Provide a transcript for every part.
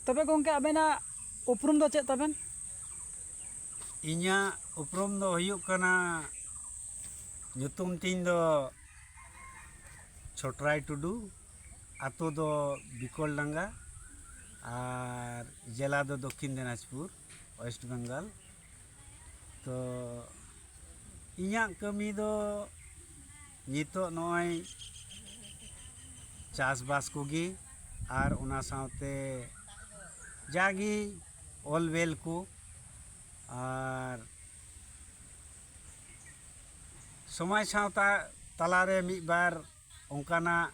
ᱛᱚᱵᱮ ᱜᱚᱝᱠᱮ ᱟᱵᱮᱱᱟᱜ ᱩᱯᱨᱩᱢ ᱫᱚ ᱪᱮᱫ ᱛᱟᱵᱮᱱ ᱤᱧᱟᱹᱜ ᱩᱯᱨᱩᱢ ᱫᱚ ᱦᱩᱭᱩᱜ ᱠᱟᱱᱟ ᱧᱩᱛᱩᱢ ᱛᱤᱧ ᱫᱚ ᱪᱷᱚᱴᱨᱟᱭ ᱴᱩᱰᱩ ᱟᱛᱳ ᱫᱚ ᱵᱤᱠᱚᱞ ᱰᱟᱸᱜᱟ ᱟᱨ ᱡᱮᱞᱟ ᱫᱚ ᱫᱚᱠᱠᱷᱤᱱ ᱫᱤᱱᱟᱡᱽᱯᱩᱨ ᱳᱭᱮᱥᱴ ᱵᱮᱝᱜᱚᱞ ᱛᱚ ᱤᱧᱟᱹᱜ ᱠᱟᱹᱢᱤ ᱫᱚ ᱱᱤᱛᱚᱜ ᱱᱚᱜᱼᱚᱭ ᱪᱟᱥ ᱵᱟᱥ ᱠᱚᱜᱮ ᱟᱨ ᱚᱱᱟ ᱥᱟᱶᱛᱮ ᱡᱟᱜᱮ ᱚᱞ ᱵᱮᱞ ᱠᱚ ᱟᱨ ᱥᱚᱢᱟᱡᱽ ᱥᱟᱶᱛᱟ ᱛᱟᱞᱟᱨᱮ ᱢᱤᱫ ᱵᱟᱨ ᱚᱱᱠᱟᱱᱟᱜ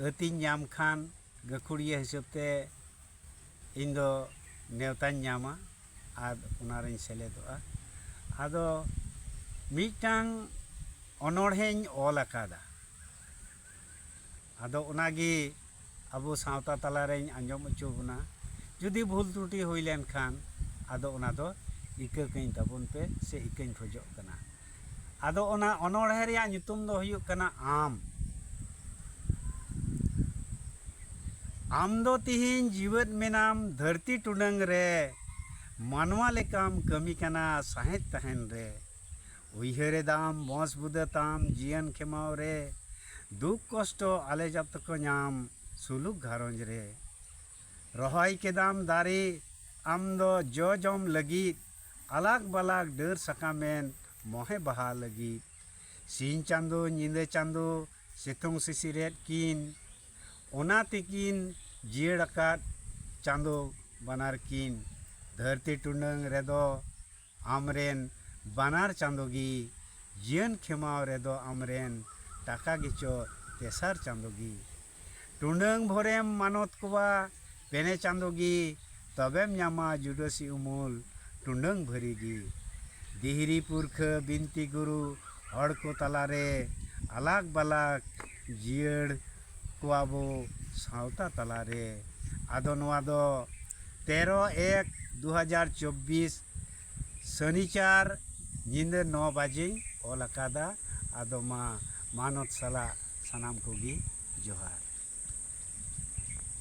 ᱟᱹᱛᱤᱧ ᱧᱟᱢ ᱠᱷᱟᱱ ᱜᱟᱹᱠᱷᱩᱲᱤᱭᱟᱹ ᱦᱤᱥᱟᱹᱵ ᱛᱮ ᱤᱧ ᱫᱚ ᱱᱮᱣᱛᱟᱧ ᱧᱟᱢᱟ ᱟᱨ ᱚᱱᱟ ᱨᱤᱧ ᱥᱮᱞᱮᱫᱚᱜᱼᱟ ᱟᱫᱚ ᱢᱤᱫᱴᱟᱝ ᱚᱱᱚᱬᱦᱮᱧ ᱚᱞ ᱟᱠᱟᱫᱟ ᱟᱫᱚ ᱚᱱᱟ ᱜᱮ ᱟᱵᱚ ᱥᱟᱶᱛᱟ ᱛᱟᱞᱟ ᱨᱮᱧ ᱟᱸᱡᱚᱢ ᱚᱪᱚ ᱵᱚᱱᱟ ᱡᱩᱫᱤ ᱵᱷᱩᱞ ᱛᱨᱩᱴᱤ ᱦᱩᱭ ᱞᱮᱱ ᱠᱷᱟᱱ ᱟᱫᱚ ᱚᱱᱟ ᱫᱚ ᱤᱠᱟᱹ ᱠᱟᱹᱧ ᱛᱟᱵᱚᱱ ᱯᱮ ᱥᱮ ᱤᱠᱟᱹᱧ ᱠᱷᱚᱡᱚᱜ ᱠᱟᱱᱟ ᱟᱫᱚ ᱚᱱᱟ ᱚᱱᱚᱬᱦᱮ ᱨᱮᱭᱟᱜ ᱧᱩᱛᱩᱢ ᱫᱚ ᱦᱩᱭᱩᱜ ᱠᱟᱱᱟ ᱟᱢ ᱟᱢ ᱫᱚ ᱛᱤᱦᱤᱧ ᱡᱤᱣᱮᱫ ᱢᱮᱱᱟᱢ ᱫᱷᱟᱹᱨᱛᱤ ᱴᱩᱰᱟᱹᱝ ᱨᱮ ᱢᱟᱱᱣᱟ ᱞᱮᱠᱟᱢ ᱠᱟᱹᱢᱤ ᱠᱟᱱᱟ ᱥᱟᱸᱦᱮᱫ ᱛᱟᱦᱮᱱ ᱨᱮ ᱩᱭᱦᱟᱹᱨ ᱮᱫᱟᱢ ᱵᱚᱸᱥ ᱵᱩᱫᱟᱹ ᱛᱟᱢ ᱡᱤᱭᱚᱱ ᱠᱷᱮᱢᱟᱣ ᱨᱮ ᱫᱩᱠ ᱠᱚᱥᱴᱚ ᱟᱞᱮ ᱡᱚᱛᱚ ᱠᱚ ᱧᱟᱢ ᱥᱩᱞᱩᱠ ᱜᱷᱟᱨᱚᱸᱡᱽ ᱨᱮ ᱨᱚᱦᱚᱭ ᱠᱮᱫᱟᱢ ᱫᱟᱨᱮ ᱟᱢ ᱫᱚ ᱡᱚ ᱡᱚᱢ ᱞᱟᱹᱜᱤᱫ ᱟᱞᱟᱠ ᱵᱟᱞᱟᱠ ᱰᱟᱹᱨ ᱥᱟᱠᱟᱢᱮᱱ ᱢᱚᱦᱮ ᱵᱟᱦᱟ ᱞᱟᱹᱜᱤᱫ ᱥᱤᱧ ᱪᱟᱸᱫᱚ ᱧᱤᱫᱟᱹ ᱪᱟᱸᱫᱚ ᱥᱤᱛᱩᱝ ᱥᱤᱥᱤᱨᱮᱫ ᱠᱤᱱ ᱚᱱᱟ ᱛᱮᱠᱤᱱ ᱡᱤᱭᱟᱹᱲ ᱟᱠᱟᱫ ᱪᱟᱸᱫᱚ ᱵᱟᱱᱟᱨ ᱠᱤᱱ ᱫᱷᱟᱹᱨᱛᱤ ᱴᱩᱰᱟᱹᱝ ᱨᱮᱫᱚ ᱟᱢ ᱨᱮᱱ ᱵᱟᱱᱟᱨ ᱪᱟᱸᱫᱚ ᱜᱮ ᱡᱤᱭᱟᱹᱱ ᱠᱷᱮᱢᱟᱣ ᱨᱮᱫᱚ ᱟᱢ ᱨᱮᱱ ᱴᱟᱠᱟ ᱜᱮᱪᱚ ᱛᱮᱥᱟᱨ ᱪᱟᱸᱫᱚ ᱜᱮ ᱴᱩᱸᱰᱟᱹᱝ ᱵᱷᱳᱨᱮᱢ ᱢᱟᱱᱚᱛ ᱠᱚᱣᱟ ᱯᱮᱱᱮ ᱪᱟᱸᱫᱚ ᱜᱮ ᱛᱚᱵᱮᱢ ᱧᱟᱢᱟ ᱡᱩᱰᱟᱹᱥᱤ ᱩᱢᱩᱞ ᱴᱩᱸᱰᱟᱹᱝ ᱵᱷᱟᱹᱨᱤ ᱜᱮ ᱫᱤᱦᱨᱤ ᱯᱩᱨᱠᱷᱟᱹ ᱵᱤᱱᱛᱤ ᱜᱩᱨᱩ ᱦᱚᱲ ᱠᱚ ᱛᱟᱞᱟ ᱨᱮ ᱟᱞᱟᱠ ᱵᱟᱞᱟᱠ ᱡᱤᱭᱟᱹᱲ ᱠᱚᱣᱟ ᱵᱚ ᱥᱟᱶᱛᱟ ᱛᱟᱞᱟ ᱨᱮ ᱟᱫᱚ ᱱᱚᱣᱟ ᱫᱚ ᱛᱮᱨᱚ ᱮᱠ ᱫᱩ ᱦᱟᱡᱟᱨ ᱪᱚᱵᱽᱵᱤᱥ ᱥᱟᱱᱤᱪᱟᱨ ᱧᱤᱫᱟᱹ ᱱᱚ ᱵᱟᱡᱮᱧ ᱚᱞ ᱟᱠᱟᱫᱟ ᱟᱫᱚ ᱢᱟ ᱢᱟᱱᱚᱛ ᱥᱟᱞᱟᱜ ᱥᱟᱱᱟᱢ ᱠᱚᱜᱮ ᱡᱚᱦᱟᱨ